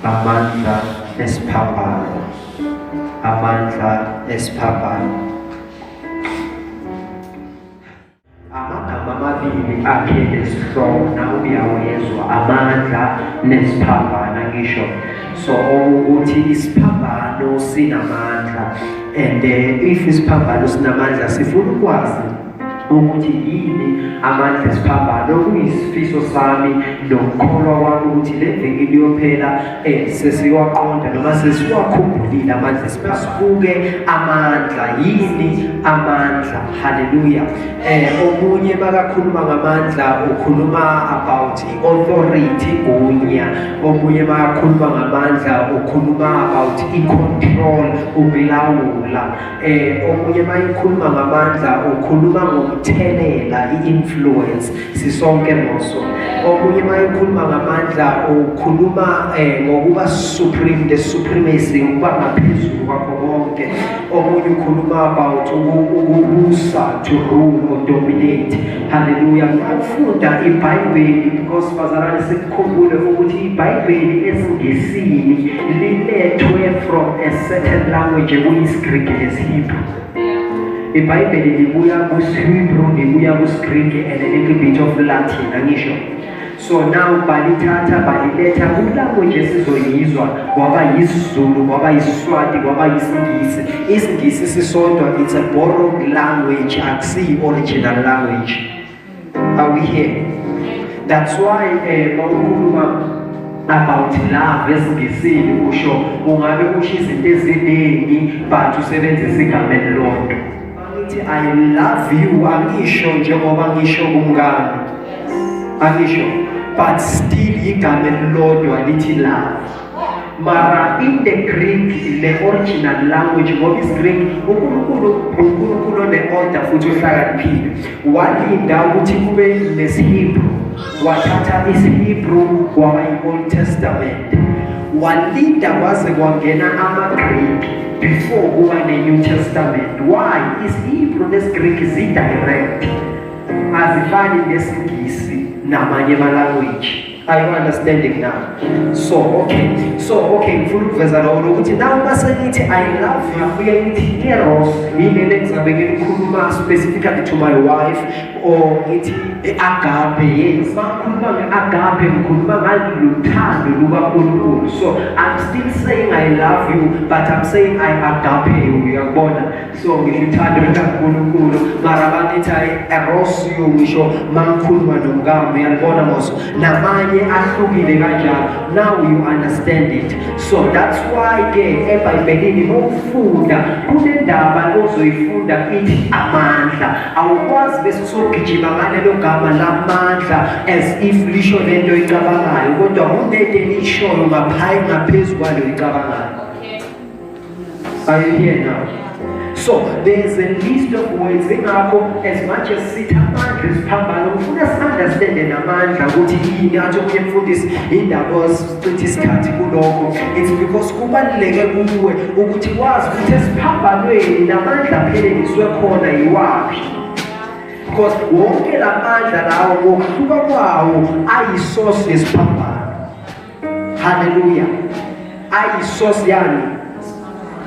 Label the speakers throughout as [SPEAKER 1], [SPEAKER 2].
[SPEAKER 1] amandla esiphambano amandla esiphambano amagama amabili akhe nesihloko nawe uyawezwa amandla nesiphambana ngisho so okuthi isiphambano sinamandla and uh, if isiphambano sinamandla sifuna ukwazi ukuthi yini amandla esiphambano okuyisifiso sami nokukholwa kwami ukuthi le viki liyophela um sesiwaqonda noma sesiwakhumbulile amandla esibasibuke amandla yini amandla haleluya um omunye bakakhuluma ngamandla ukhuluma about authority gunya omunye bayakhuluma ngamandla ukhuluma about i-control ukulawula eh omunye bayikhuluma ngamandla ukhuluma ngomthelela i-influence sisonke moso omunye bayikhuluma ngamandla ukhuluma eh ngokuba supreme the supremacy ukuba ngaphezulu kwakho konke omunye ukhuluma about ukubusa to rule or dominate Haleluya. Ukufunda iBhayibheli because bazalwane sikukhumbule ukuthi iBhayibheli esiNgisini lilethwe from a certain language ekuyisiGriki nesiHebrew. IBhayibheli libuya kusiHebrew, libuya kusiGriki and a little bit of Latin, angisho. So now balithatha baliletha kulabo nje sizoyizwa kwaba yisizulu kwaba yisiswati kwaba yisingisi isingisi sisodwa it's a borrowed language akusiyi original language are we here that's why eh bawukhuluma about love esingisini usho ungabe usho izinto eziningi but usebenzisa igama elilodwa Ngithi I love you angisho njengoba ngisho kumngane. Angisho but still igama elilodwa lithi love. Mara in the Greek le original language ngoba isiGreek uNkulunkulu uNkulunkulu one-order futhi uhlakaniphile. Walinda ukuthi kube nesiHebrew wathatha isiHebrew kwaba i-Old Testament. Walinda kwaze kwangena amaGreek Before kuba ne-New Testament, why is Hebrew nesiGreek zi-direct? Azifani nesiNgisi namanye ama-language. Are you understanding now? So, okay. So, okay, ngifuna ukuveza lokho ukuthi nawe uma sengithi I love you, uye ngithi eros, yini le ngizabe ngilikhuluma specifically to my wife or ngithi i-agape yes makhuluma nge-agape ngikhuluma ngalothando lukankulunkulu so i'm still saying i love you but i'm saying i agape you uyakubona so ngisho uthando lukankulunkulu mara bangithi ayi eros you ngisho mangikhuluma nomkami uyalibona moso namanye ahlukile kanjalo now you understand it so that's why ke ebhayibhelini mowufunda kunendaba ozoyifunda ithi amandla awukwazi bese usogijima ngalelo gama lamandla as if lisho lento icabangayo kodwa kunento elishoyo ngaphayi ngaphezu kwalo icabangayo are you here now so there is a list of words ingakho as much as sithi amandla esiphambano ufuna si-understande namandla ukuthi yini athi omunye mfundisi indaba Citha isikhathi kulokho. It's because kubaluleke kuwe ukuthi wazi ukuthi esiphambanweni namandla aphelelizwe khona yiwaphi. Because wonke la mandla lawo ngokuhluka kwawo ayisource yesiphambano. Hallelujah. Ayisource yani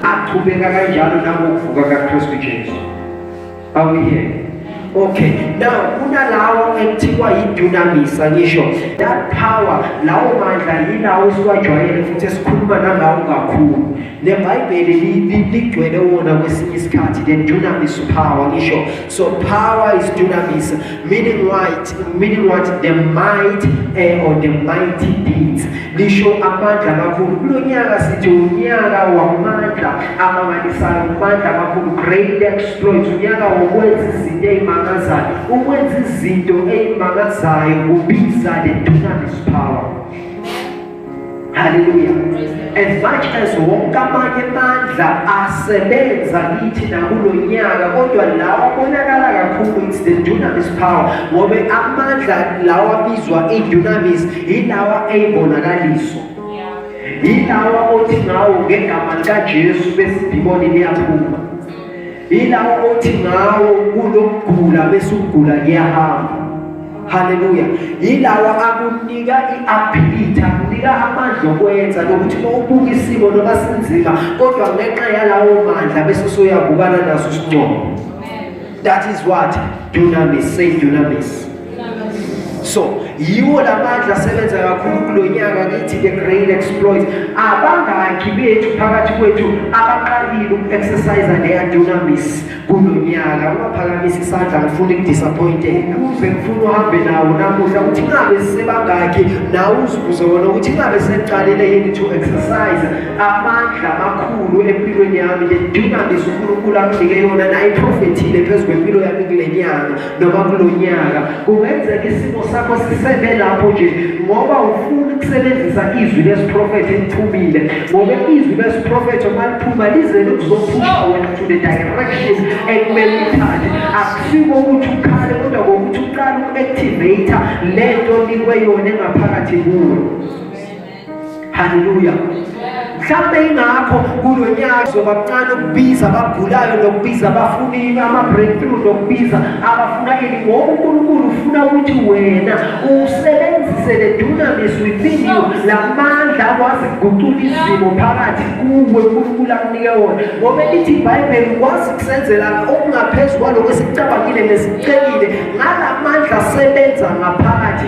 [SPEAKER 1] aqhubeka kanjalo nangokuvuka kaKristu Jesu. Are we here? Okay, now kunalawa ekuthiwa yidunamisa ngisho that power lawo mandla yilawo esiwajwayele futhi esikhuluma nangawo kakhulu nebhayibheli ligcwele wona kwesinye isikhathi the dunamis power ngisho so power is dunamis Meaning white, meaning what the might eh, or the mighty deeds. Lisho amandla amakhulu. Kulo nyaka sithi unyaka wamandla amangalisayo, amandla amakhulu, great exploits, unyaka wokwenza izinto ezimangazayo. Ukwenza izinto ezimangazayo kubiza the dunamis power. Hallelujah. As much as wonke amanye amandla asebenza kithi nakulo nyaka kodwa lawa abonakala kakhulu it's the dunamis power ngoba amandla lawa abizwa i-dunamis yilawa eyibonakaliso yilawa othi ngawo ngegama likajesu besidimoni liyaphuma Yilawo othi ngawo kulokugula bese ukugula kuyahamba. Haleluya. Yilawo akunika i-ability, akunika amandla okwenza lokuthi uma ubuka isimo noma sinzima kodwa ngenxa yalawo mandla bese usuyabukana naso isincomo. That is what dunamis, say dunamis. so yiwo la mandla asebenza kakhulu kulo nyaka kithi the great exploit abangaki bethu phakathi kwethu abaqalile uku-exercise leyadunamis kulo nyaka ungaphakamisa isandla ngifuna ukudisappointeka uze ngifuna uhambe nawo namuhla ukuthi ngabe sisebangaki nawe uzibuze wona ukuthi ngabe sekuqalile yini to exercise amandla amakhulu empilweni yami le dunamis unkulunkulu amnike yona nayiprofethile phezu kwempilo yami kule nyanga noma kulo nyaka kungenzeka isimo sakho sisebe lapho nje ngoba ufuna ukusebenzisa izwi lesiprofetho eliphumile ngoba izwi lesiprofetho uma liphuma lize likuzophusha wena to the direction ekumele uthathe akusiko ukuthi ukhale kodwa kokuthi uqale uku-activate le nto nikwe yona engaphakathi kuwe Haleluya. Mhlawumbe ingakho kulo nyaka kuzoba kuncane ukubiza abagulayo nokubiza abafunile ama-breakthrough nokubiza abafuna ini ngoba uNkulunkulu ufuna ukuthi wena usebenzise le dunamis within you la mandla akwazi kugucula izimo phakathi kuwe uNkulunkulu akunike wona ngoba elithi ibhayibheli ukwazi ukusenzela okungaphezulu kwaloko esikucabangile nesicelile ngala mandla asebenza ngaphakathi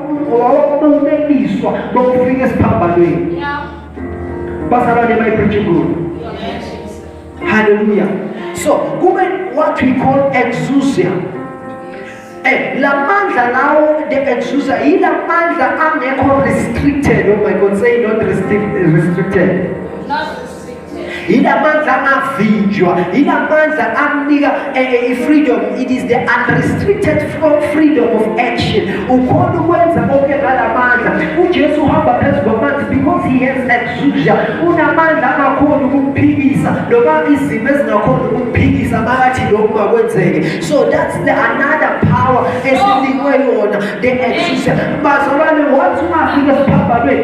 [SPEAKER 1] ngoba wabumeliswa bokufika esiphambanweni bazalwane mayibhijingulu haleluya so kube what we call exousia Eh, la mandla lawo the exousia yila mandla angekho restricted oh my god say not restricted yilamandla angavinjwa yilamandla amnika eh, eh, i-freedom it is the unrestricted freedom of action ukhona ukwenza konke ngalamandla ujesu uhamba phezu kwamanzi because he has exusia unamandla angakhoni ukukuphikisa noma izimo ezingakhoni ukukuphikisa makathi lokhu makwenzeke so that's the another power esinikwe yona the exusia bazalwane wathi ungafika esiphambanweni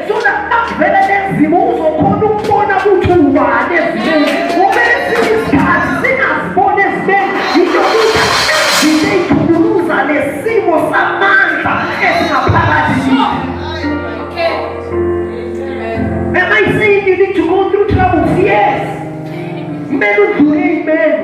[SPEAKER 1] Sona nakuvela nezimo uzokhona ukubona ukuthi ubani ezimeni. Ngoba esinye isikhathi singaziboni ezimeni yinto ukuthi izinto eyithukuluza nesimo samandla esingaphakathi kithi. Am I saying you need to go through troubles? Yes. Kumele udlule imeni.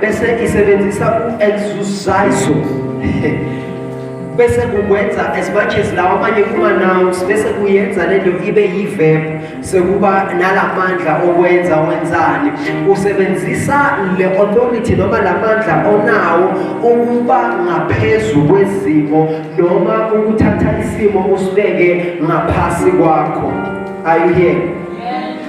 [SPEAKER 1] bese isebenzisa u-exercise bese kukwenza as much as lawa amanye kuma-nouns bese kuyenza le nto ibe yi-verb sekuba nalamandla okwenza wenzani usebenzisa le authority noma lamandla onawo ukuba ngaphezu kwezimo noma ukuthatha isimo usibeke ngaphasi kwakho are you here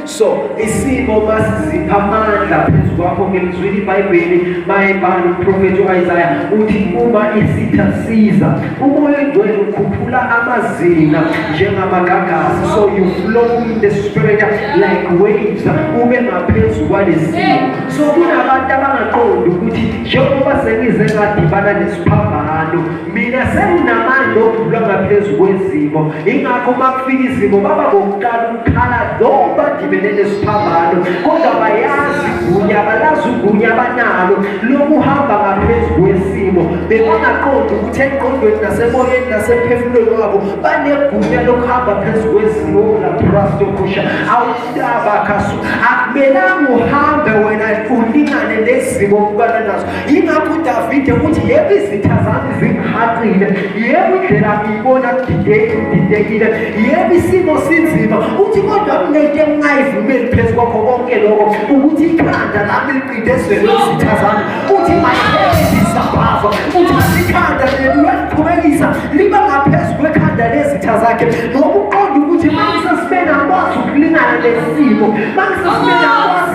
[SPEAKER 1] so isimo masizipha amandla phezu kwakho ngilizwile ibhayibheli mayebhala umprofethi u-isaya uthi uma isitha siza Umoya oyingcwele ukhuphula amazinga njengamagagasi so you flow in the spirit like waves ube ngaphezu kwalesimo so kunabantu abangaqondi ukuthi njengoba sengize ngadibana nesiphambano mina senginamandla okudlula ngaphezu kwezimo ingakho uma kufika izimo baba bokuqala khala lo bagibele lesiphambano kodwa bayazi gunya balazi ugunya abanalo lokuhamba ngaphezu kwesimo bebangaqondi ukuthi engqondweni nasemoyeni nasemphefumulweni wabo banegunya lokuhamba phezu kwezimo labrastokusha awutabakhaso akumelanga uhambe wena ulingane nezimo obukana nazo Yingakho uDavide uthi yebo izitha zami zingihaqile, yebo indlela ngiyibona kudidekile, yebo isimo sinzima. Uthi kodwa kunento engingayivumeli phezu kwakho konke lokho ukuthi ikhanda lami liqinde ezweni lezitha zami. Uthi mayiphele isabhazo, uthi ikhanda leli uyaliqhubekisa liba ngaphezu kwekhanda lezitha zakhe ngokuqonda ukuthi uma ngisesibeni akwazi ukulingana nesimo, uma ngisesibeni akwazi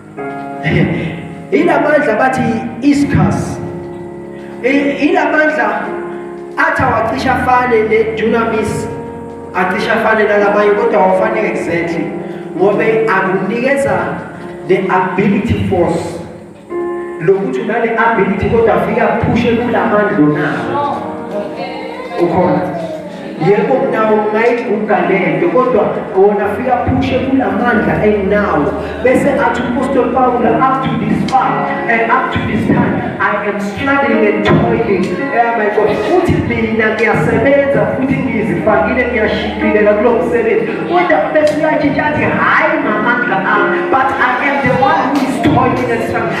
[SPEAKER 1] ilamandla bathi iscas ilamandla athi awacisha afane ne-dunamis acisha afane nalabanye kodwa awafane exactly ngobe akunikeza the ability force lokuthi unale ability kodwa afika phushe kulamandla onawo ukhona yebo nawo ngayiguga lento kodwa wona fika phushe kulamandla enginawo bese athi uPostoli Paul up to this far and up to this time I am struggling and toiling eh my God futhi mina ngiyasebenza futhi ngizifakile ngiyashikhilela kulo msebenzi kodwa bese uyatshintsha athi hayi ngamandla ami but I am the one who is toiling and struggling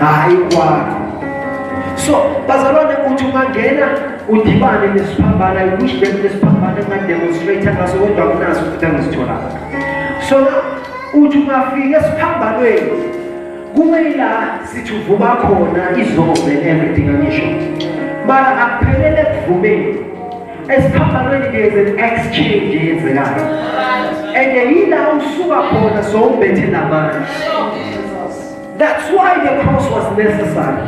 [SPEAKER 1] hayi kwakho so bazalwane uthi ungangena udibane nesiphambana wish them nesiphambana ungademonstrate ngaso kodwa kunaso ukuthi angisitholanga so uthi ungafika esiphambanweni kube yila sithi uvuba khona izombe everything angisho mara akuphelele ekuvumeni esiphambanweni there's an exchange eyenzekayo and yila usuka khona sowumbethe namandla That's why the cross was necessary.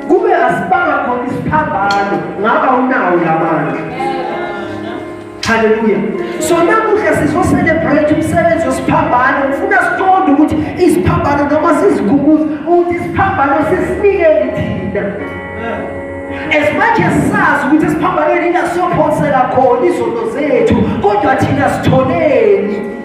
[SPEAKER 1] Kube asibanga khona isiphambano ngaba unawo lamandla. Hallelujah. So namuhla sizocelebrate umsebenzi wesiphambano ngifuna siqonde ukuthi isiphambano noma sizigubuza ukuthi isiphambano sisinikele thina. As much as sazi ukuthi esiphambanweni ingasophonsela khona izono zethu kodwa thina sitholeni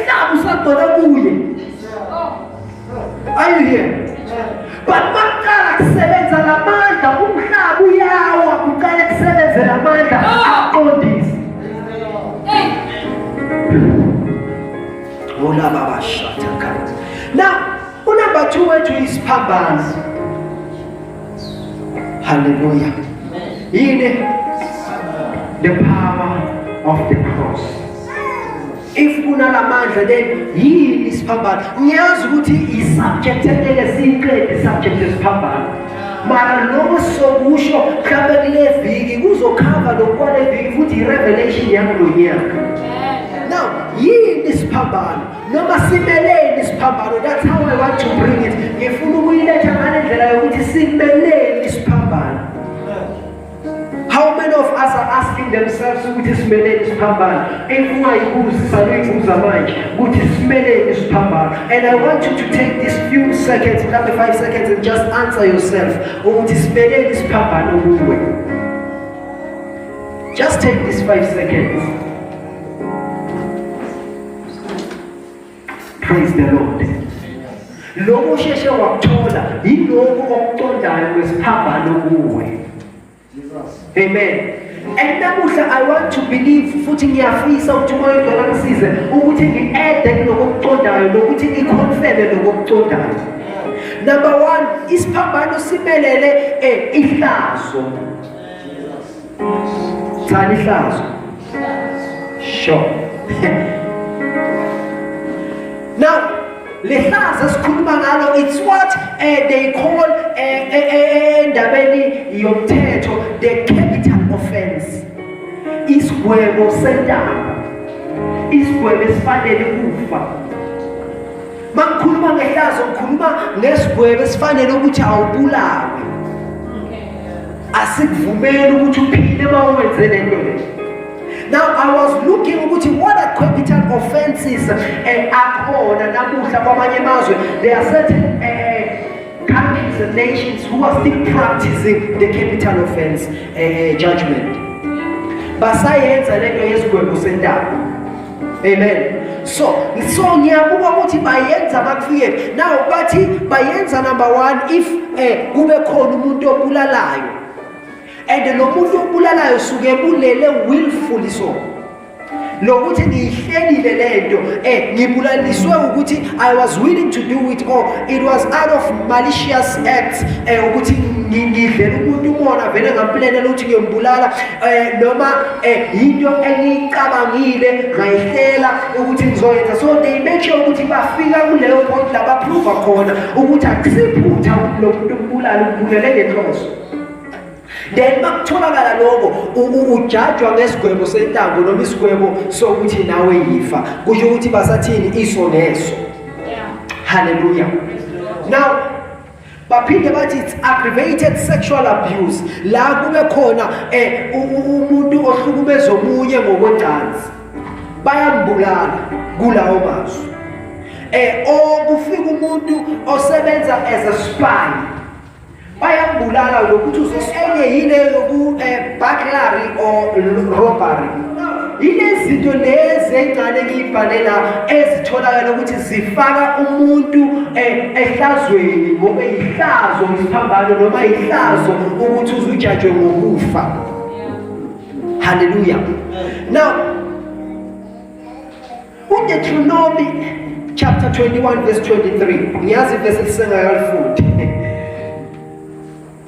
[SPEAKER 1] Inhlaba usagcwele kuye. Are you here? But maqala kusebenza lamandla umhlaba uyawa kuqale kusebenze lamandla aqondise. Hola baba shata kati. Now, unamba 2 wethu isiphambano. Hallelujah. Yini? The power of the cross. if kunalamandla then yini isiphambano ngiyazi ukuthi i-subject engeke siyiqede i-subject esiphambano mara lokho sokusho mhlawumbe kule viki kuzokhava lokukwale viki futhi i-revelation yakulo nyaka now yini isiphambano noma simeleni isiphambano that's how i want to bring it ngifuna ukuyiletha ngale ndlela yokuthi simeleni isiphambano How many of us are asking themselves ukuthi simeleni siphambana? If ungayibuzi saluyibuza manje ukuthi simeleni siphambana. And I want you to take these few seconds, mhlawumbe 5 seconds and just answer yourself ukuthi simeleni siphambana kuwe. Just take these 5 seconds. Praise the Lord. Lokho usheshe wakuthola yilokho okuqondayo kwesiphambano kuwe. Amen. And namuhla I want to believe futhi ngiyafisa ukuthi umoya ongcwele angisize ukuthi ngi-ede kuloko okuqondayo nokuthi ngikhonfele lokho okuqondayo. Number 1 isiphambano simelele eh ihlazo. Cha lihlazo. Sure. Now, lihlazo esikhuluma ngalo it's what uh, they call endabeni eh, eh, eh, yomthetho the capital offense. Isigwebo sentaba. Isigwebo esifanele kufa. Makukhuluma ngehlazo ukhuluma ngesigwebo esifanele ukuthi awubulawe. asikuvumeli ukuthi uphile uma uwenze le nto le now i was looking ukuthi what are capital offenses eh, akhona namuhla kwamanye amazwe there are certain eh, countries and nations who are still practicing the capital offense eh, judgment basayenza lento yesigwebo sentaba Amen. So, so ngiyabuka ukuthi bayenza bakufike. Now bathi bayenza number 1 if eh kube khona umuntu obulalayo. And lo muntu obulalayo suke bulele willfully so. lokuthi ngiyihlelile lento eh ngibulaliswe ukuthi i was willing to do it or it was out of malicious acts eh ukuthi ngidlela umuntu umona vele ngamplanela ukuthi ngiyombulala eh noma eh into engicabangile ngayihlela ukuthi ngizoyenza so they make sure ukuthi bafika kuleyo point la baprove khona ukuthi akusiphutha ukuthi lo muntu ubulala ubulele ngenhloso then makutholakala lokho ujajwa ngesigwebo sentambo noma isigwebo sokuthi nawe yifa kusho ukuthi basathini iso neso haleluya now baphinde bathi it's aggravated sexual abuse la kube khona eh umuntu ohlukumeza omunye ngokwecansi bayambulala kulawo mazwi eh okufika oh, umuntu osebenza as a spy bayambulala lokuthi uzosenye yile yoku eh, burglary or robbery yilezinto lezi engane ngiyibhalela ezitholakala ukuthi zifaka umuntu eh, ehlazweni ngoba yihlazo ngisiphambano noma yihlazo ukuthi uzujajwe ngokufa haleluya now udeuteronomy chapter 21 verse 23 ngiyazi ivesi lisengakalifundi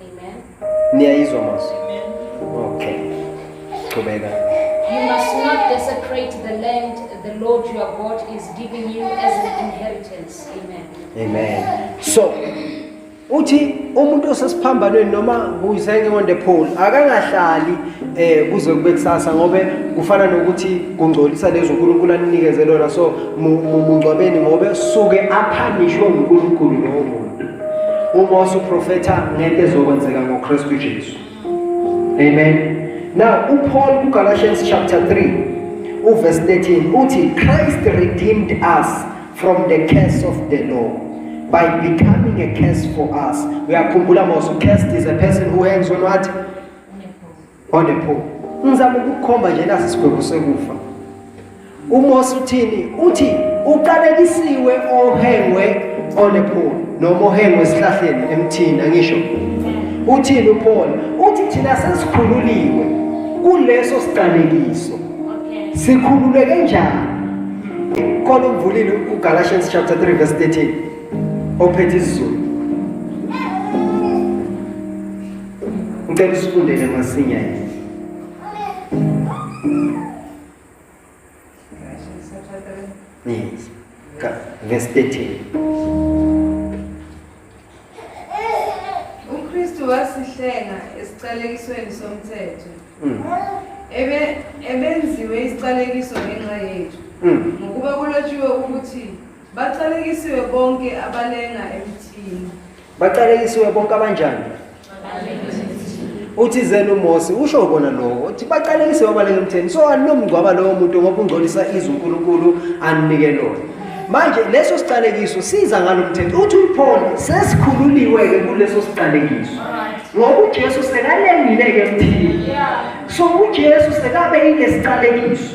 [SPEAKER 1] Amen. Niyayizwa manje? Amen. Okay. Qhubeka.
[SPEAKER 2] You must not desecrate the land the Lord your God is giving you as an inheritance. Amen.
[SPEAKER 1] Amen. So uthi umuntu osesiphambanweni noma kuyiseke on the pole akangahlali eh kuze kube kusasa ngobe kufana nokuthi kungcolisa lezo uNkulunkulu anikeze lona so mungcwabeni ngobe suke aphanishwe uNkulunkulu lowo muntu uMose uprofetha ngento ezokwenzeka ngoKristu Jesu amen now uPaul kuGalatians chapter 3 uverse 13 uthi Christ redeemed us from the curse of the law by becoming a curse for us uyakhumbula Mose cursed is a person who hangs on what Onephupho. Ngizama ukukhomba nje nasi sigwebo sekufa. UMose uthini? Uthi uqalekisiwe ohengwe onephupho noma ohengwe esihlahleni emthini angisho. Uthini uPaul? Uthi thina sesikhululiwe kuleso siqalekiso. Sikhululeke njani? Khona umvulile uGalatians chapter 3 verse 13 ophethe isiZulu Ngicela usifundele masinya yini. Yes. Verse
[SPEAKER 3] 13. UKristu wasihlenga esiqalekisweni somthetho. Mm. Ebe ebenziwe isiqalekiso ngenxa yethu. Mm. Ngokuba kulotshiwe ukuthi baqalekisiwe bonke abalenga emthini. Baqalekisiwe
[SPEAKER 1] bonke abanjani? Uthi zenu Mose usho kona lokho. Uthi baqalekisiwe abaleke emtheni. So anomngcwaba lowo muntu ngoba ungcolisa izwi uNkulunkulu anike lona. Manje leso siqalekiso siza ngalomthetho. Uthi uPaul sesikhululiwe ke kuleso siqalekiso. Ngoba uJesu sekalengile ke emthini. So uJesu sekabe ile siqalekiso.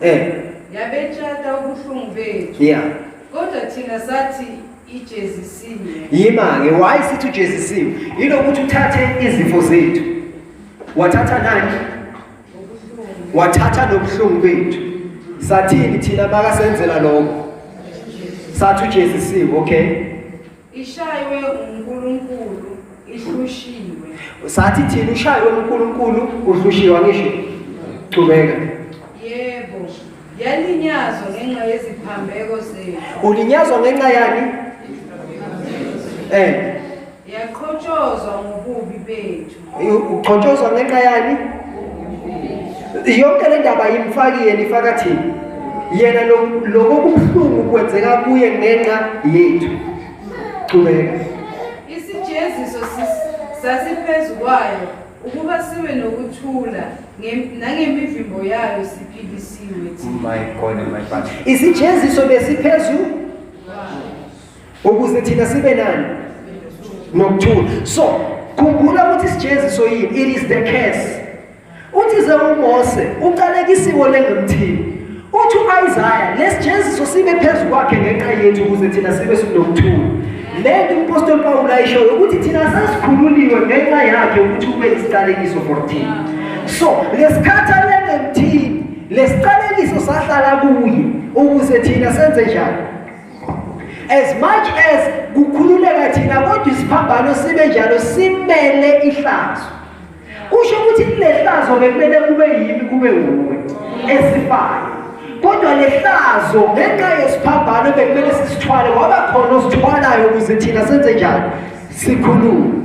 [SPEAKER 3] Eh. Yabetshata ubuhlungu bethu. Yeah. Kodwa thina sathi ijezisiwe.
[SPEAKER 1] Yima-ke why sithi ujezisiwe? Yilokuthi uthathe izifo zethu. Wathatha nani? Wathatha nobuhlungu bethu. Sathini thina makasenzela lokho? Sathi ujezisiwe, okay? Ishaywe
[SPEAKER 3] uNkulunkulu ihlushiwe. Sathi thina
[SPEAKER 1] ushaywe uNkulunkulu uhlushiwe angisho. Qhubeka. Yebo.
[SPEAKER 3] Yalinyazwa ngenxa yeziphambeko zethu. Ulinyazwa ngenxa
[SPEAKER 1] yani? Eh.
[SPEAKER 3] Yaqhotshozwa ngobubi bethu. ugcotshozwa
[SPEAKER 1] ngenxa yani yonke le ndaba yimfaki yena ifaka thina yena lokho kubuhlungu kwenzeka kuye ngenxa yethu qhubeka isijeziso
[SPEAKER 3] sasiphezu kwayo ukuba sibe nokuthula nangemivimbo yayo siphikisiwe thina oh
[SPEAKER 1] isijeziso besiphezu ukuze thina sibe nani nokuthula so khumbula ukuthi isijeziso yini it is the curse uthi ze umose uqalekisiwe lengumthini uthi uIsaiah lesijeziso sibe phezulu kwakhe ngenxa yethu ukuze thina sibe sinokuthula lento umpostoli Pawulu ayishoyo ukuthi thina sesikhululiwe ngenxa yakhe ukuthi ube isiqalekiso for thina so lesikhathi alengemthini lesiqalekiso sahlala kuye ukuze thina senze njani as much as kukhululeka thina kodwa isiphambano sibe njalo simele ihlazo kusho ukuthi kulehlazo bekumele kube yimi kube wuwe esifayo kodwa lehlazo ngenxa yesiphambano bekumele sisithwale waba khona osithwalayo ukuze thina senze njani sikhulume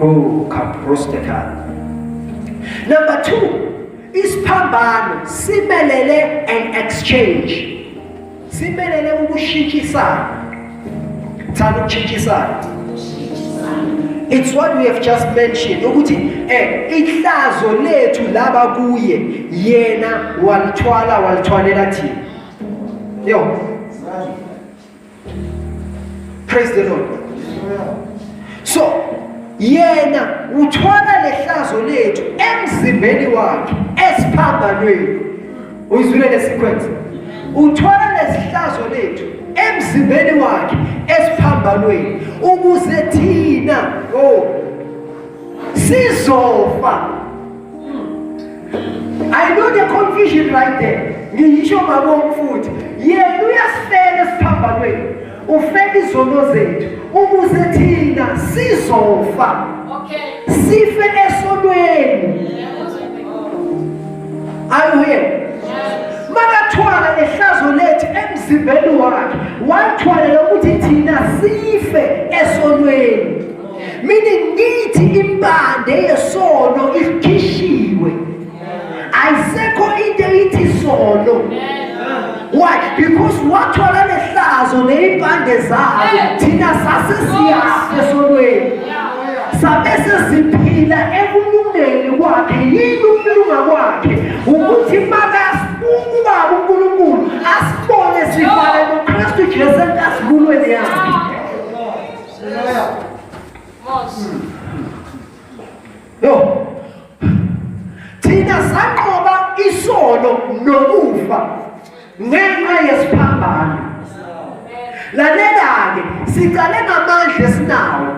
[SPEAKER 1] Oh, kaprosteka. Number two, isiphambano simelele an exchange. Simelele ukushitshisana. Thanda ukushitshisana. It's what we have just mentioned ukuthi eh ihlazo lethu laba kuye yena walithwala walithwalela thina. Yo. Praise the Lord. So yena uthola lehlazo lethu emzimbeni wakhe esiphambanweni. Uyizwile lesequence. Uthola lesihlazo lethu emzimbeni wakhe esiphambanweni ukuze thina oh sizofa I know the confusion right there. Ngiyisho mabonga futhi. Yena uyasifela esiphambanweni. Ufela izono zethu ukuze thina sizofa. Okay.
[SPEAKER 2] Sife
[SPEAKER 1] esonweni. Are you here? makathwala lehlazo lethu emzimbeni wakhe wathwalela ukuthi thina sife esonweni mina ngithi impande yesono ikhishiwe ayisekho into eyithi isono why because wathola lehlazo neyimpande zazo thina sase siyazi esonweni sabe sesiphila ekulungeni kwakhe yini ukulunga kwakhe ukuthi makasibaba unkulunkulu asibone sifana nokristu jesu enkazikulweni yakhe Yo. Thina sanqoba isono nokufa ngenxa yesiphambano. Lalela-ke siqale ngamandla esinawo.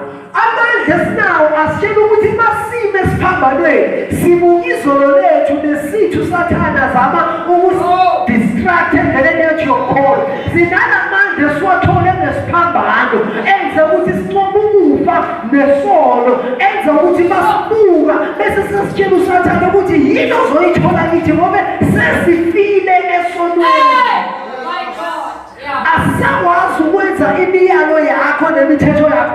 [SPEAKER 1] Amandla esinawo asitshela ukuthi masime esiphambanweni sibuka izolo lethu nesithu sathana zama ukusi distracted and then your call Zinanamandla esiwathole ngesiphambano enze ukuthi sinqobe ukufa nesono enze ukuthi masibuka bese sesitshela usathane ukuthi yini ozoyithola kithi ngoba sesifile esonweni asisakwazi ukwenza imiyalo yakho nemithetho yakho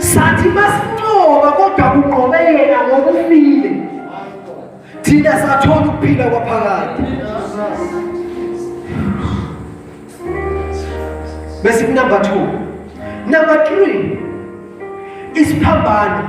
[SPEAKER 1] sathi masinqoba kodwa kunqobe yena ngoba ufile thina sathola ukuphila kwaphakade bese number 2 number 3 isiphambano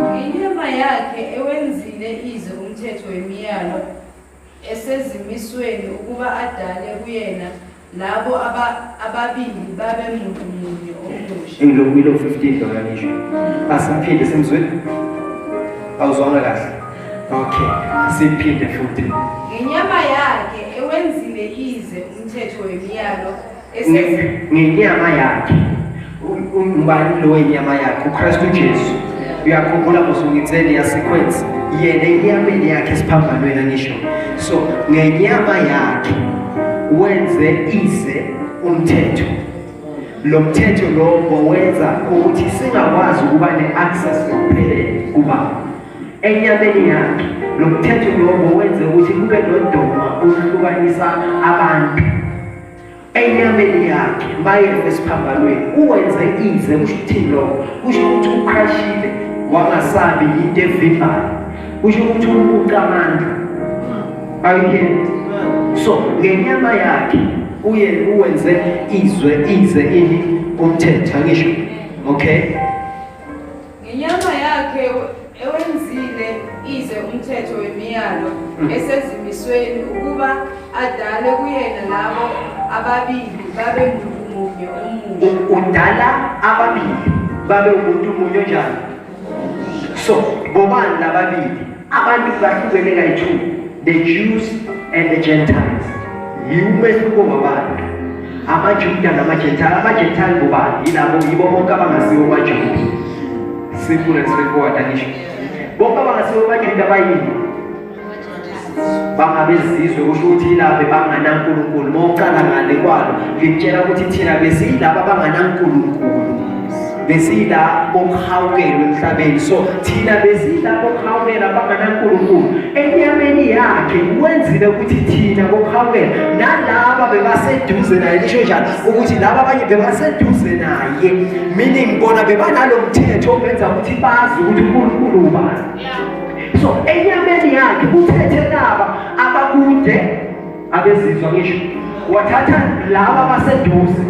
[SPEAKER 1] Ngenyama
[SPEAKER 3] yakhe ewenzile ize umthetho wemiyalo esezimisweni ukuba adale kuyena labo ababili babe muntu munye omusha ilo ilo 15 loya
[SPEAKER 1] ngisho asiphinde simzwe awuzwanga kahle okay siphinde futhi ngenyama
[SPEAKER 3] yakhe ewenzile ize umthetho wemiyalo
[SPEAKER 1] ngenyama yakhe umbani lo wenyama yakhe ukristu jesu uyakhumbula mosungitsele yasequence yena enyameni yakhe esiphambanweni angisho so ngenyama yakhe wenze ize umthetho lo mthetho lowo wenza ukuthi singakwazi ukuba ne-access ngokuphelele kuba enyameni yakhe lo mthetho lowo wenze ukuthi kube nodoma oluhlukanisa abantu enyameni yakhe mayeve esiphambanweni uwenze ize kusho ukuthini lokho kusho ukuthi uqhashile wangasabi yinto evimbayo kusho ukuthi umuntu amandla ayiyeni so ngenyama yakhe uye uwenze izwe ize ini umthetho angisho okay
[SPEAKER 3] Ngenyama yakhe ewenzile ize umthetho wemiyalo mm. esezimisweni ukuba adale kuyena labo ababili babe muntu munye omunye. Udala
[SPEAKER 1] ababili babe umuntu munye njani? So, bobani lababili? Abantu bahlukene kayi-two, the Jews and the Gentiles. Yiwumehluko wabantu amaJuda namaJentile. AmaJentile ngubani? Yilabo yibo bonke abangasiwo kwaJuda. Simple and straightforward angisho. Bonke abangasiwo kwaJuda bayini? bangabezizwe kusho ukuthi yilaba bebanganankulunkulu uma uqala ngale kwalo ngikutshela ukuthi thina besiyilaba abanganankulunkulu besiyila bokuhawukela emhlabeni so thina besiyila bokuhawukela abanganankulunkulu enyameni yakhe wenzile ukuthi thina bokuhawukela nalaba bebaseduze naye lisho njalo ukuthi laba abanye bebaseduze naye meaning bona bebanalo mthetho obenza ukuthi bazi ukuthi unkulunkulu ubani so enyameni yakhe uthethe laba abakude abezizwa ngisho wathatha laba baseduze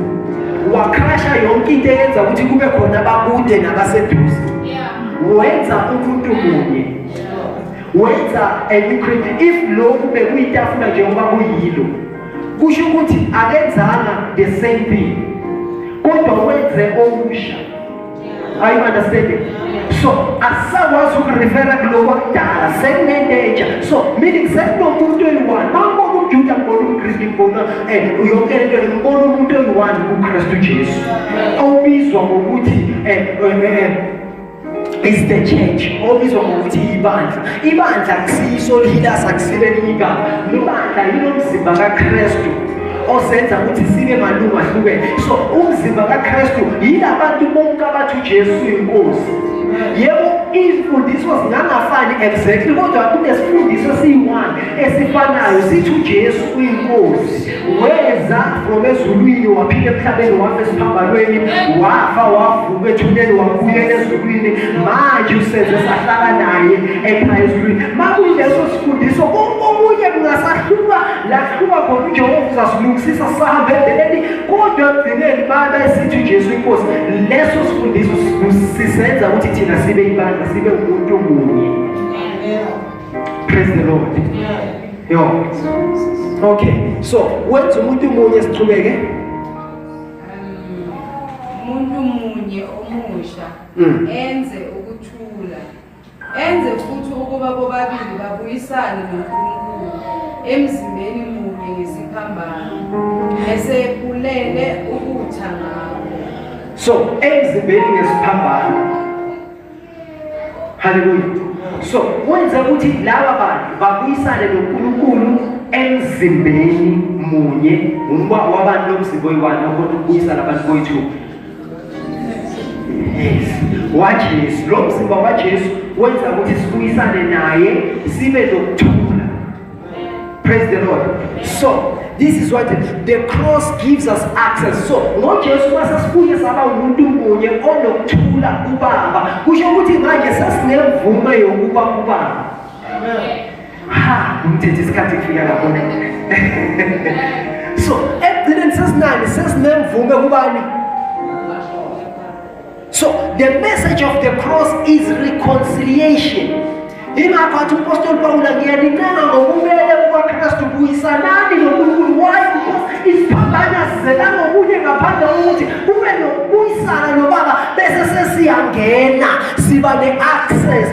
[SPEAKER 1] wakrasha yonke into eyenza ukuthi kube khona abakude nabaseduze wenza umuntu munye wenza encreate if lokhu bekuyitafula njengoba kuyilo kusho ukuthi akenzanga the same thing kodwa wenze okusha Are you understanding? So asakwazi ukurefera kuloko kudala sekunento entsha so meaning sekunomuntu oyi-one mambona umjuda mbona umkristu mbona um yonke lento ngimbona umuntu oyi-one kukristu jesu obizwa ngokuthi um is the church obizwa ngokuthi ibandla ibandla akusiyiso lilasa kusilelinye igama ibandla yilomzimba kakristu osenza ukuthi sibe malungu ahlukene so umzimba kakristu yila bantu bonke abathi ujesu uyinkosi yebo iy'mfundiso zingangafani exactly kodwa kunesifundiso esiyi-one esifanayo sithi ujesu uyinkosi weza from ezulwini waphila emhlabeni wafa esiphambanweni wafa wavuka ethuneni wabuyela ezulwini manje usenze sahlala naye ekhaya ezulwini makuyileso sifundiso konke okunye kungasahluka Laphuma khona uJehova uzasilungisisa sihambe ebeleni kodwa ekugcineni baba esithi uJesu inkosi leso sifundiso sisenza ukuthi thina sibe ibandla sibe umuntu munye praise the lord yo okay so wenza umuntu munye sichubeke
[SPEAKER 3] umuntu munye omusha mm. enze Enze futhi ukuba bobabili babuyisane noNkulunkulu emzimbeni munye ngesiphambano bese ephulele ukutha ngabo. So
[SPEAKER 1] emzimbeni ngesiphambano. Haleluya. So wenze ukuthi laba bantu babuyisane noNkulunkulu emzimbeni munye ngoba wabantu lomzimba oyiwani okhona ukubuyisana abantu boyi-two waJesu lo mzimba waJesu wenza ukuthi sibuyisane naye sibe nokuthula praise the lord so This is what the cross gives us access. So ngoJesu masesibuye saba umuntu munye onokuthula kubaba. Kusho ukuthi manje sesingemvume yokuba kubaba. Amen. ha umthethe isikhathi kufika lapho so ekugcineni sesinani sesinemvume kubani so the message of the cross is reconciliation ingakho athi umpostoli pawula ngiyanincenga ngokubele kukakristu buyisanani nonkulunkulu why because isiphambana sizela ngokunye ngaphandle kokuthi kube nokubuyisana nobaba bese sesiyangena siba ne-access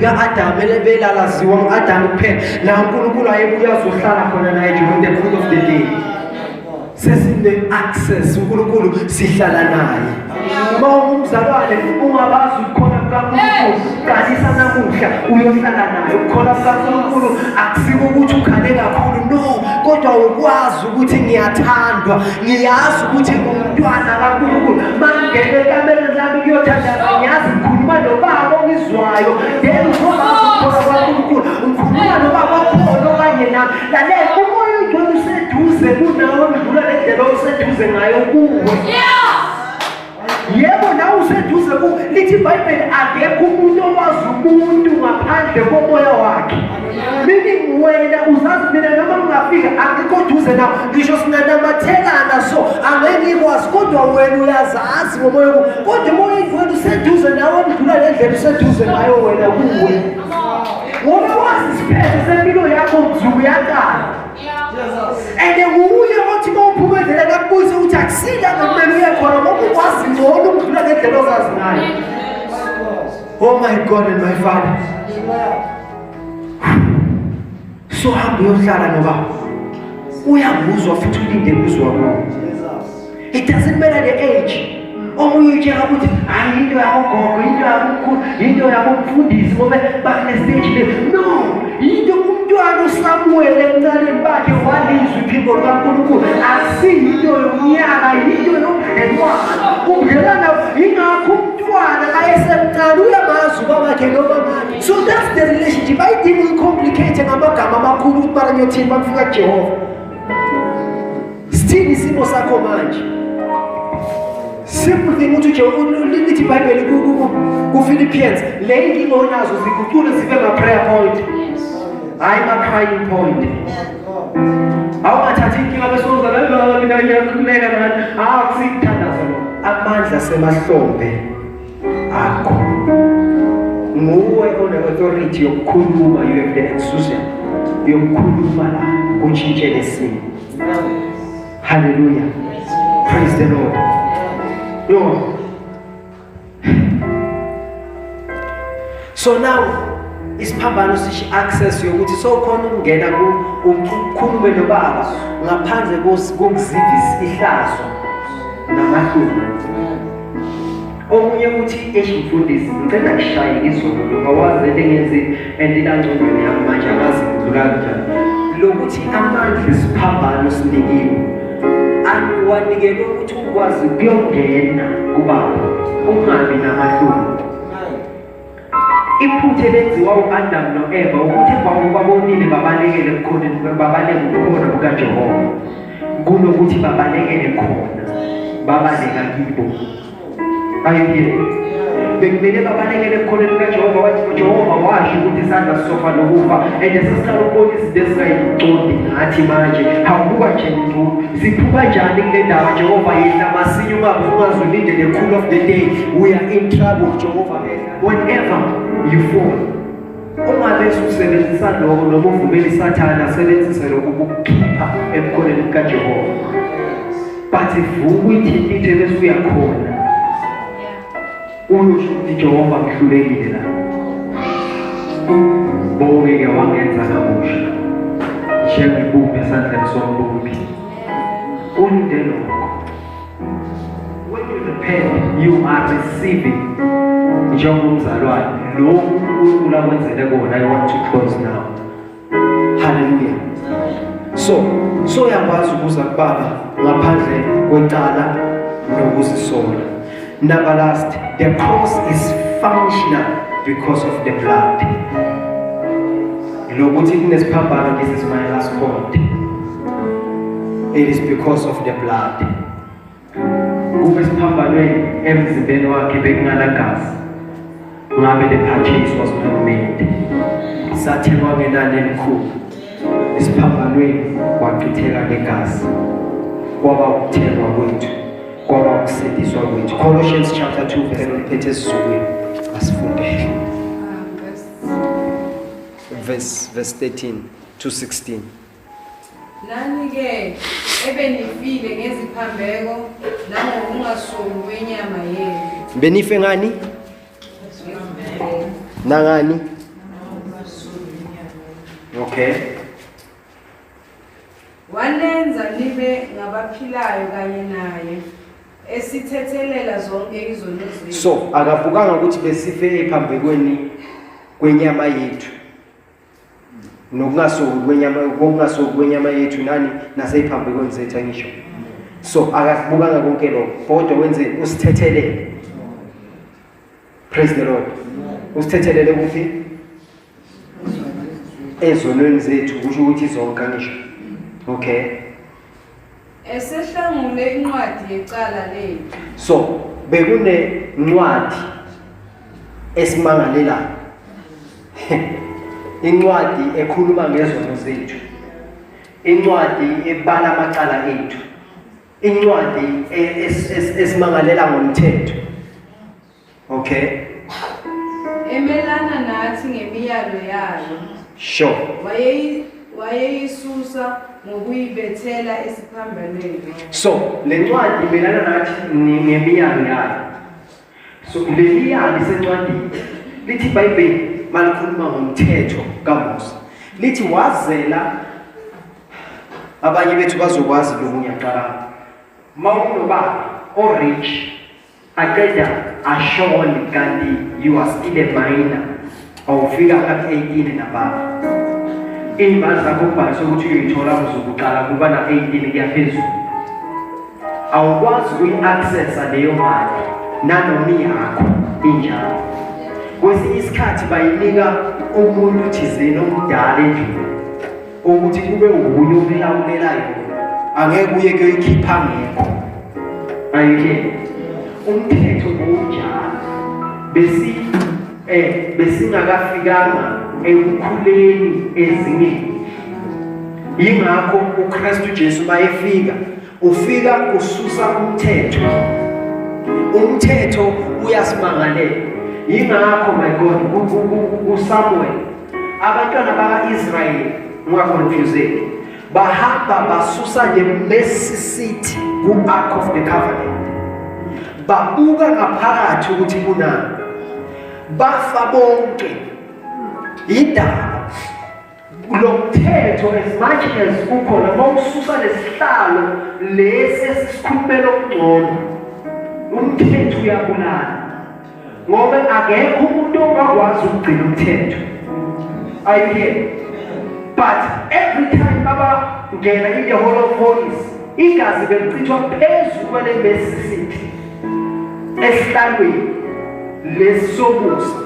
[SPEAKER 1] lika-adamu elebelalaziwa ngu-adamu kuphela la unkulunkulu ayebuye azohlala khona naye during the court of the day sesine-access unkulunkulu sihlala naye uma ungumzalwane ungabazi ukukhona kukankulunkulu qalisa namuhla uyohlala naye ukukhona kukankulunkulu akusiko ukuthi ukhale kakhulu no kodwa ukwazi ukuthi ngiyathandwa ngiyazi ukuthi ngumntwana kankulunkulu mangene ekamereni lami kuyothandaza ngiyazi ngikhuluma nobaba ongizwayo then ukhona kwankulunkulu ngikhuluma nobaba okhona okanye nami Lalela umoya ongcwele useduze kunawe ndlula nendlela oseduze ngayo kuwe. Yebo nawe useduze ku lithi iBhayibheli akekho umuntu owazi umuntu ngaphandle komoya wakhe. Mina nguwena uzazi mina noma ngingafika akekho duze na ngisho singanamathekana so angeke ngikwazi kodwa wena uyazazi ngomoya kodwa umoya ongcwele useduze nawe ndlula nendlela useduze ngayo wena kuwe. Ngoba wazi isiphetho sempilo yakho mzuku yakala. And nguye othi mawuphumezela kakubuyise ukuthi akusile akumele uye khona ngoba ukwazi ngcono ukudlula ngendlela ozazi ngayo. Oh my God and my Father. so hamba uyohlala ngoba uyakuzwa futhi ulinde kuzwa kuwo it doesn't matter the age omunye utshela ukuthi hayi into yakogogo into yakomkhulu into yakomfundisi ngobe bakunestage le no yinto umntwana usamuwele emncaneni bakhe walizwa iphimbo lukankulunkulu asiyinto yomnyaka yinto yomdlelwana umdlelwana yingakho umntwana ayesemncane uyamazi ubabakhe nobabakhe So that's the relationship. I didn't complicate ngamagama amakhulu ukuthi mara ngiyothini bakufika kuJehova. Sithini isimo sakho manje? Simple thing ukuthi uJehova lithi iBhayibheli kuFilippians, le inkinga onazo ziguqule zibe ma prayer point. Hayi ma crying point. Awungathathi inkinga bese uza la la mina ngiyakhuleka la. Awu sikuthandaza lo. Amandla semahlombe. akho nguwe one-authority yokukhuluma you have the exusion yokukhuluma la kutshintshe lesimo haleluya praise the lord yo so now isiphambano sisho access yokuthi sokhona ukungena ukhulume nobaba ngaphandle kokuzivisa ihlazo namahloni omunye ukuthi eish mfundisi ngicela ngishaye izolo ngoba waze lengenzi endinangcondweni yami manje akazi ngidlula kanjani lokuthi amandla isiphambano sinikiwe akuwanikelwe ukuthi ukwazi kuyongena kubaba ungabi namahloni Iphutha elenziwa u-Adamu no-Eva ukuthi emva kokuba bonile babalekele ebukhoneni babaleke ubukhona bukaJehova kunokuthi babalekele khona babaleka kibo ayibiyele bekumele babalekele ebukhoneni bukaJehova wathi uJehova washo ukuthi isandla sisofa nokufa and sesiqala ukubona izinto ezingayiqondi ngathi manje hawubuka nje nzulu siphuka njani kule ndaba Jehova yehla masinya ungabe ungaze ulindele khulu of the day We are in trouble, Jehovah. Whenever you fall, ungalesi usebenzisa lokho noma uvumele isathane asebenzise lokho ukukukhipha emkhoneni kukajehova but vuka uyithintithe bese uyakhona uyosho ukuthi jehova ngihlulekile la bonke-ke wangenza kabusha njengebumbi esandleni sombumbi kunde lokho When you repent, you are receiving njengoba umzalwane lokhu uNkulunkulu akwenzele kona i want to close now haleluya so so yakwazi ukuza kubaba ngaphandle kwecala nokuzisola Number last, the cross is functional because of the blood. Lokuthi kunesiphambano this is my last point. It is because of the blood. Kube siphambanweni emzimbeni wakhe bekunganagazi. Ngabe the purchase was not made. Sathengwa ngenani elikhulu. Isiphambanweni wachitheka ngegazi. Kwaba ukuthengwa kwethu. Kwaba ukusindiswa kwethu. Colossians chapter 2 verse 1 ethi sizukile. Asifundele. Verse verse 13 to 16. Nani-ke
[SPEAKER 3] ebenifile ngeziphambeko nangokungasongi kwenyama yenu. Benife ngani?
[SPEAKER 1] Nangani? Okay.
[SPEAKER 3] Wanenza nibe ngabaphilayo kanye naye esithethelela zonke izono zethu. So akavukanga
[SPEAKER 1] ukuthi besife ephambekweni kwenyama yethu. nokungasuki kwenyama kokungasuki kwenyama yethu nani naseyiphambekweni zethu angisho so akakubukanga konke lokho kodwa wenze usithethelele praise the lord usithethelele ukuthi ezonweni zethu kusho ukuthi zonke angisho okay
[SPEAKER 3] Esehlangule incwadi yecala lethu. So
[SPEAKER 1] bekune ncwadi esimangalelayo. Incwadi ekhuluma ngezono zethu. Incwadi ebala amacala ethu. Incwadi e-, esimangalela ngomthetho. Okay.
[SPEAKER 3] Emelana nathi ngemiyalo yayo. Sure.
[SPEAKER 1] Wayeyi wayeyisusa
[SPEAKER 3] ngokuyibethela esiphambanweni. So, le
[SPEAKER 1] ncwadi imelana nathi ngemiyalo yayo. So, le miyalo isencwadini. Lithi iBhayibheli malikhuluma ngomthetho kaMose. Lithi wazela abanye bethu bazokwazi lokhu ngiyaqala. Mawunobaba o-rich Aqeda ashone kanti you are still a minor. Awufika kap 18 nababa. Imali zakho ubhalise ukuthi uyoyithola kuzokuqala kuba na 18 kuyaphezulu. Awukwazi uyi-accessa leyo mali nanoma iyakho injalo. Kwesinye isikhathi bayinika umuntu thizeni omdala endlini ukuthi kube wuye umlawulelayo angeke uye kuyoyikhipha ngekho ayike umthetho bowunjalo besi eh besingakafikanga ekukhuleni ezingeni yingakho uKristu Jesu bayefika ufika kususa umthetho umthetho uyasimangalela yingakho my God uSamuel Abantwana baka-Israyeli ungakonfyuzeki, bahamba basusa nje Mercy City ku-Ark of the Covenant, babuka ngaphakathi ukuthi kunani, bafa bonke yindaba lo mthetho as much as ukhona uma ususa lesihlalo lesi esikhulumela okungcono umthetho uyabulala ngoba akekho umuntu ongakwazi ukugcina umthetho ayike but every time abangena in the hall of holies igazi belichithwa phezu kwale mesisithi esihlalweni lesi sobusa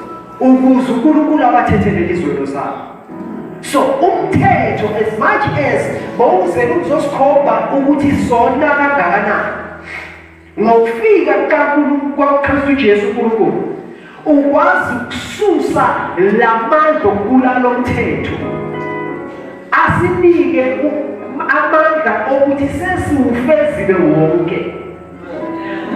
[SPEAKER 1] ukuze unkulunkulu abathethele izwelo zabo so umthetho as much as bowuzele ukuzosikhomba ukuthi sona kangakanani Ngokufika kukaNkulunkulu kwakuKristu Jesu uNkulunkulu ukwazi ukususa lamandla okubulala lomthetho asinike amandla okuthi sesiwufezile wonke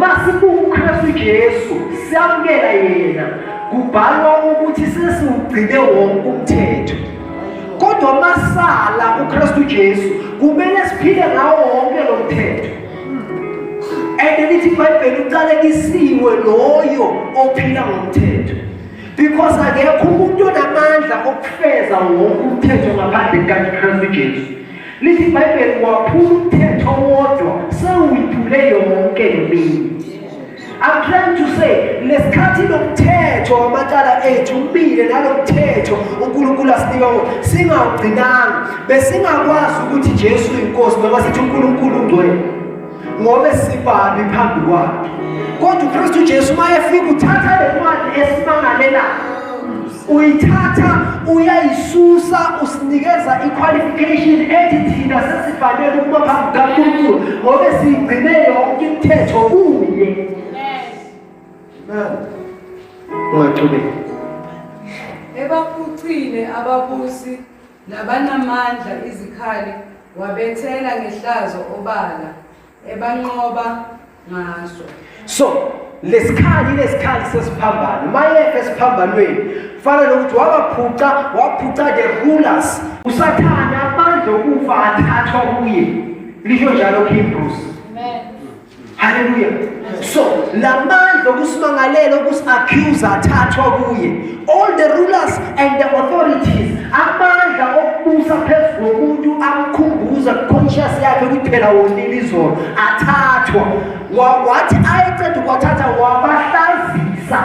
[SPEAKER 1] masibuka uKristu Jesu siyamukela yena kubhalwa ukuthi sesiwugcine wonke umthetho kodwa masala uKristu Jesu kumele siphile ngawo wonke lo mthetho and lithi ibhayibheli uqalekisiwe loyo ophila ngomthetho because akekho umuntu onamandla okufeza wonke umthetho ngaphandle kukakristu jesu lithi ibhayibheli waphula umthetho wodwa sewuyiphule yonke leminye I'm trying to say nesikhathi lomthetho wamacala ethu umile nalomthetho uNkulunkulu asinika wona singawugcinanga besingakwazi ukuthi Jesu inkosi noma sithi uNkulunkulu ungcwele ngobe sibabi phambi kwakhe kodwa uKristu Jesu mayefika uthatha le ncwadi esimangalelayo uyithatha uyayisusa usinikeza i-qualification ethi thina sesifanele ukuba phambi kankulunkulu ngobe siyigcine yonke imithetho kuye ungaqhubeki
[SPEAKER 3] ebaphucile ababusi nabanamandla izikhali wabethela ngehlazo obala ebanqoba ngaso so
[SPEAKER 1] lesikhali lesikhali sesiphambano mayefe esiphambanweni fana nokuthi wabaphuca waphuca the rulers usathane amandla okufa athathwa kuye lisho njalo kihebrews
[SPEAKER 2] haleluya
[SPEAKER 1] so la mandla okusimangalela okusi-accusa athathwa kuye All the rulers and the authorities amandla okubusa phezu komuntu amkhumbuza conscious yakhe ukuthi phela wonile izolo athathwa wathi ayeceda ukwathatha wabahlazisa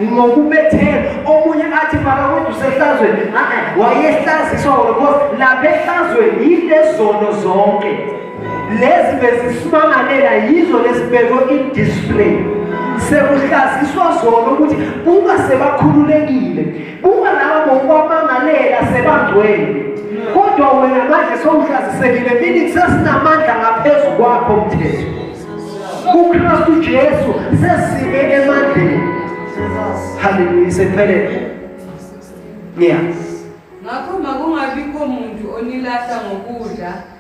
[SPEAKER 1] ngokubethela omunye athi makakude usehlazweni wayehlaziswa because lapha ehlazweni yilezono zonke lezi bezisimangalela yizo lesibekwe i-display sekuhlaziswa zona ukuthi uma sebakhululekile uma laba ngokwamangalela sebangcwele kodwa wena manje sowuhlazisekile meaning sesinamandla ngaphezu kwakho mthetho kukristu jesu sesime emandleni haleluya sekuphelele ngiyazi ngakho
[SPEAKER 3] makungabikho muntu onilahla ngokudla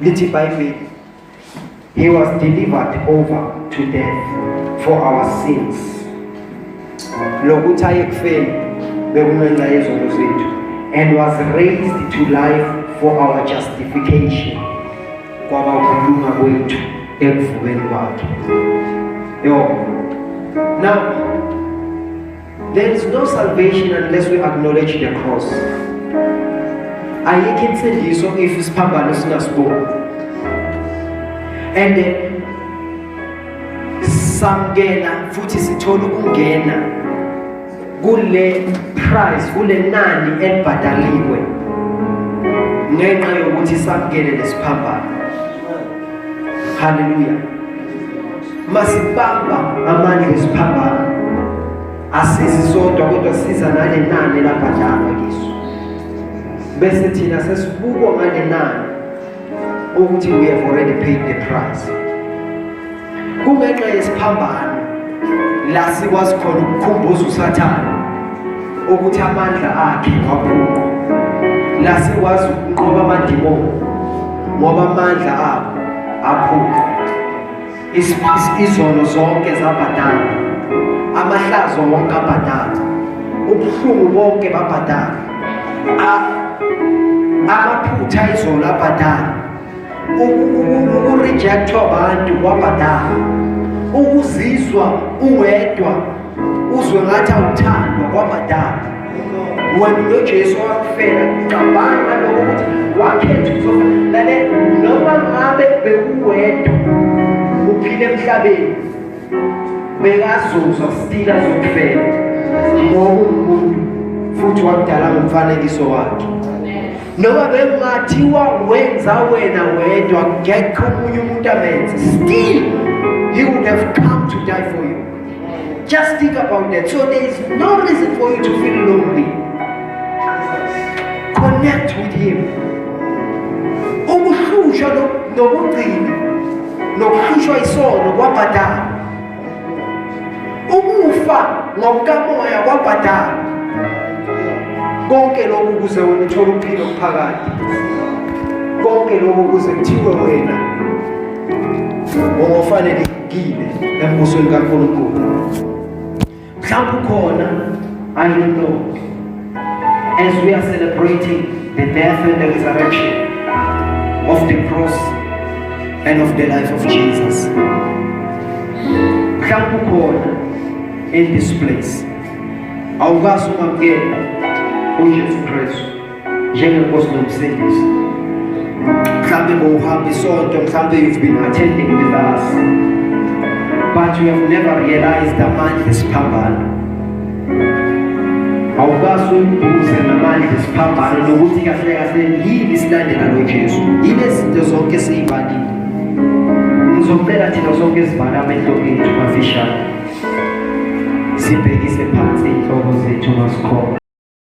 [SPEAKER 1] Lithi iBhayibheli, He was delivered over to death for our sins. Lokuthi ayekufeni bekungenxa yezono zethu and was raised to life for our justification kwaba ukulunga kwethu ekuvukeni kwakhe. Yo. Now There is no salvation unless we acknowledge the cross. Ayikho insindiso if isiphambano singasiboni. And samkela futhi sithola ukungena kule price kule nani elibhadaliwe ngenxa yokuthi samkele lesiphambano. Hallelujah. masibamba amandla esiphambana asizi sodwa kodwa siza nale nani labhadalwa kiso bese thina sesibukwa ngale nani ukuthi we have already paid the price kungenxa yesiphambano la sikwazi khona ukukhumbuza usathane ukuthi amandla akhe wabhunqa nase wazi ukunqoba amadimoni ngoba amandla abo aphuka izono zonke zabhadala amahlazo wonke abhadala ubuhlungu bonke babhadala amaphutha izolo abhadala ukurejectwa abantu kwabhadala ukuzizwa uwedwa uzwe ngathi awuthandwa kwabhadala wena nojesu wakufela cabanga ngaloko ukuthi wakhetha ukuzofa lale noma ngabe bekuwedwa uphile emhlabeni bekazuzwa sitila zokufela ngoba umuntu futhi wakudala ngomfanekiso wakhe noma bekungathiwa wenza wena wedwa ngekho omunye umuntu amenze still he would have come to die for you just think about that so there is no reason for you to feel lonely connect with him ukuhlushwa nokugcina nokuhlushwa isono kwabhadala ukufa ngokukamoya kwabhadala konke lokhu kuze wena uthole ukuphila okuphakade konke lokhu kuze kuthiwe wena ngofanelekile embusweni kaNkulunkulu Mhlawumbe ukhona I don't know as we are celebrating the death and the resurrection of the cross and of the life of Jesus mhlawumbe ukhona in this place awukazi ukwamukela uJesu Kristu njengenkosi nomsindisi mhlawumbe bowuhamba isonto mhlawumbe you've been attending with us but you have never realized amandla esiphambano awukazi uyibuze namandla esiphambano nokuthi kahle kahle yini isilandela nojesu yini ezinto zonke siyibalile ngizocela thina sonke sivala amehlo ethu mafishane sibhekise phansi inhloko zethu masikhona